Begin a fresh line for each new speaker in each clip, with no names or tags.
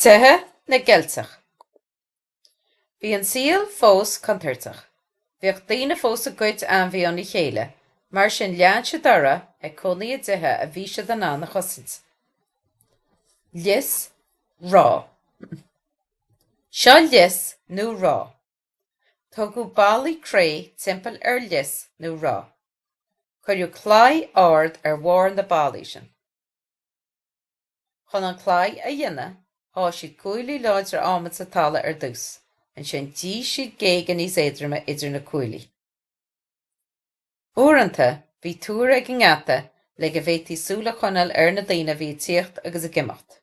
Tithe na gCeilteach. Bhí an saol fós contúirteach. Bhíodh daoine fós ag goid ainmhithe óna chéile, mar sin lean siad orthu ag cónaí i dtithe a bhí siad in ann a chosaint. Lios Ráth. Seo lios nó ráth. Tógadh ballaí cré timpeall ar lios nó ráth. Cuireadh claí ard ar bharr na ballaí sin. Chun an claí a dhéanamh, sháigh siad cuaillí láidre adhmaid sa talamh ar dtús, ansin d'fhigh siad géaga níos éadroime idir na cuaillí. Uaireanta, bhí túr ag an ngeata le go bhféadfaí súil a choinneáil ar na daoine a bhí ag tíocht agus ag imeacht.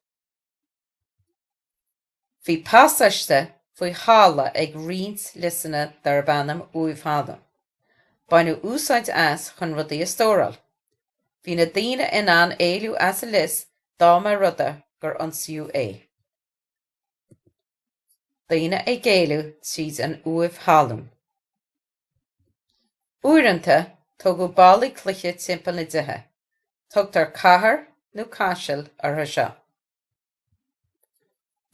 Bhí pasáiste faoi thalamh ag roinnt liosanna darb ainm uaimh thalún. Baineadh úsáid as chun rudaí a stóráil. Bhí na daoine in ann éalú as an lios dá mba rud é gur ionsaíodh é. Daoine ag éalú tríd an uaimh thalún. Uaireanta, tógadh ballaí cloiche timpeall na dtithe. Tugtar cathair nó caiseal orthu seo.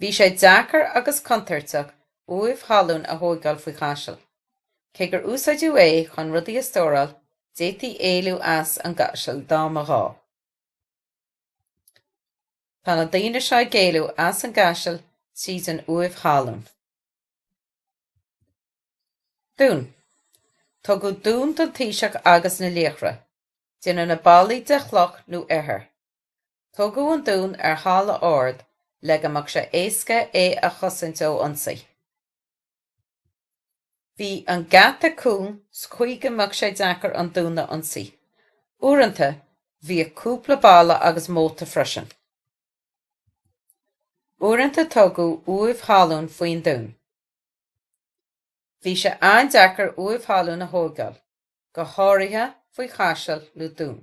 Bhí sé deacair agus contúirteach uaimh thalún a thóigeáil faoi chaiseal. Cé gur úsáideadh é chun rudaí a stóráil, d'fhéadtaí éalú as an gcaiseal dá mba ghá. Tá na daoine seo ag éalú as an gcaiseal tríd an uaimh thalún. Dún. Tógadh dún don taoiseach agus na laochra. Déanadh na ballaí de chloch nó ithir. Tógadh an dún ar thalamh ard le go mbeadh sé éasca é a chosaint ó ionsaí. Bhí an geata cúng sa chaoi go mbeadh sé deacair an dún a ionsaí. Uaireanta, bhíodh cúpla balla agus móta freisin. Uaireanta tógadh uaimh thalún faoin dún. Bhí sé an-deacair uaimh thalún a thóigeáil, go háirithe faoi chaiseal nó dún.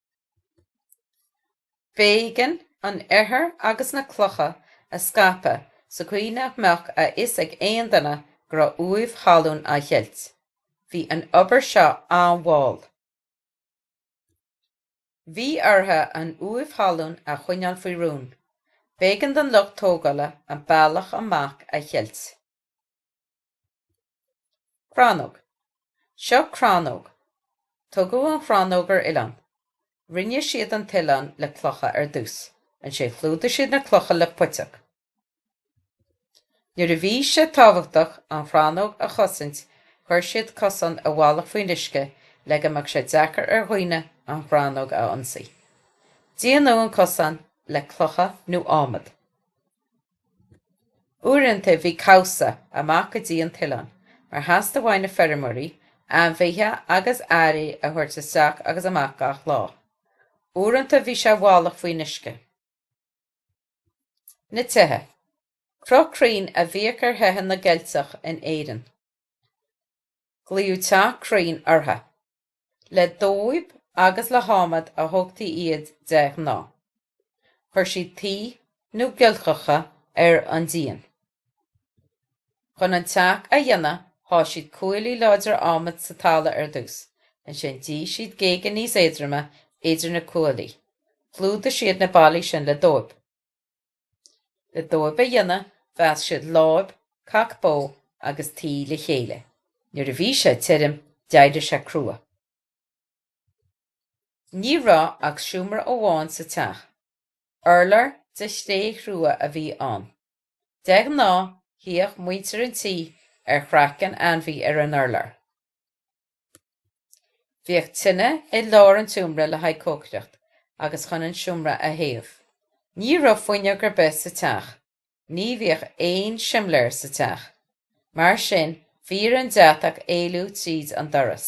B'éigean an ithir agus na clocha a scaipeadh sa gcaoi nach mbeadh a fhios ag aon duine go raibh uaimh thalún á cheilt. Bhí an obair seo an-mhall. Bhí orthu an uaimh thalún a choinneáil faoi rún. B'éigean don lucht tógála an bealach amach a cheilt. Crannóg. Seo crannóg. Tógadh an chrannóg ar oileán. Rinne siad an t-oileán le clocha ar dtús. Ansin chlúdaigh siad na clocha le puiteach. Nuair a bhí sé tábhachtach an chrannóg a chosaint chuir siad cosán i bhfalach faoin uisce le go mbeadh sé deacair ar dhaoine an chrannóg a ionsaí. Déanadh an cosán le clocha nó ádhmad. Uaireanta bhí cabhsa, amach go dtí an t-oileán, mar theastaigh ó na feirmeoirí ainmhithe agus earraí a thabhairt isteach agus amach gach lá. Uaireanta bhí sé i bhfalach faoin uisce. Na tithe. Cruth cruinn a bhíodh ar thithe na gCeilteach in Éirinn. Glaodh teach cruinn orthu. Le dóib agus le hadhmad a thógtaí iad de ghnáth. Chuir siad tuí nó giolcacha ar an díon. Chun an teach a dhéanamh sháith siad cuaillí láidre adhmaid sa talamh ar dtús, ansin d'fhigh siad géaga níos éadroime idir na cuaillí. Chlúdaigh siad na ballaí sin le dóib. Le dóib a dhéanamh mheasc siad láib, cac bó agus tuí le chéile. Nuair a bhí sé tirim d'éirigh sé crua. Ní raibh ach seomra amháin sa teach. Urlár de chré chrua a bhí ann. De ghnáth shuíodh muintir an tí ar chraiceann ainmhí ar an urlár. Bhíodh tine i lár an tseomra le haghaidh cócaireacht agus chun an seomra a théamh. Ní raibh fuinneog ar bith sa teach. Ní bhíodh aon simléar sa teach. Mar sin, bhí ar an deatach éalú tríd an doras.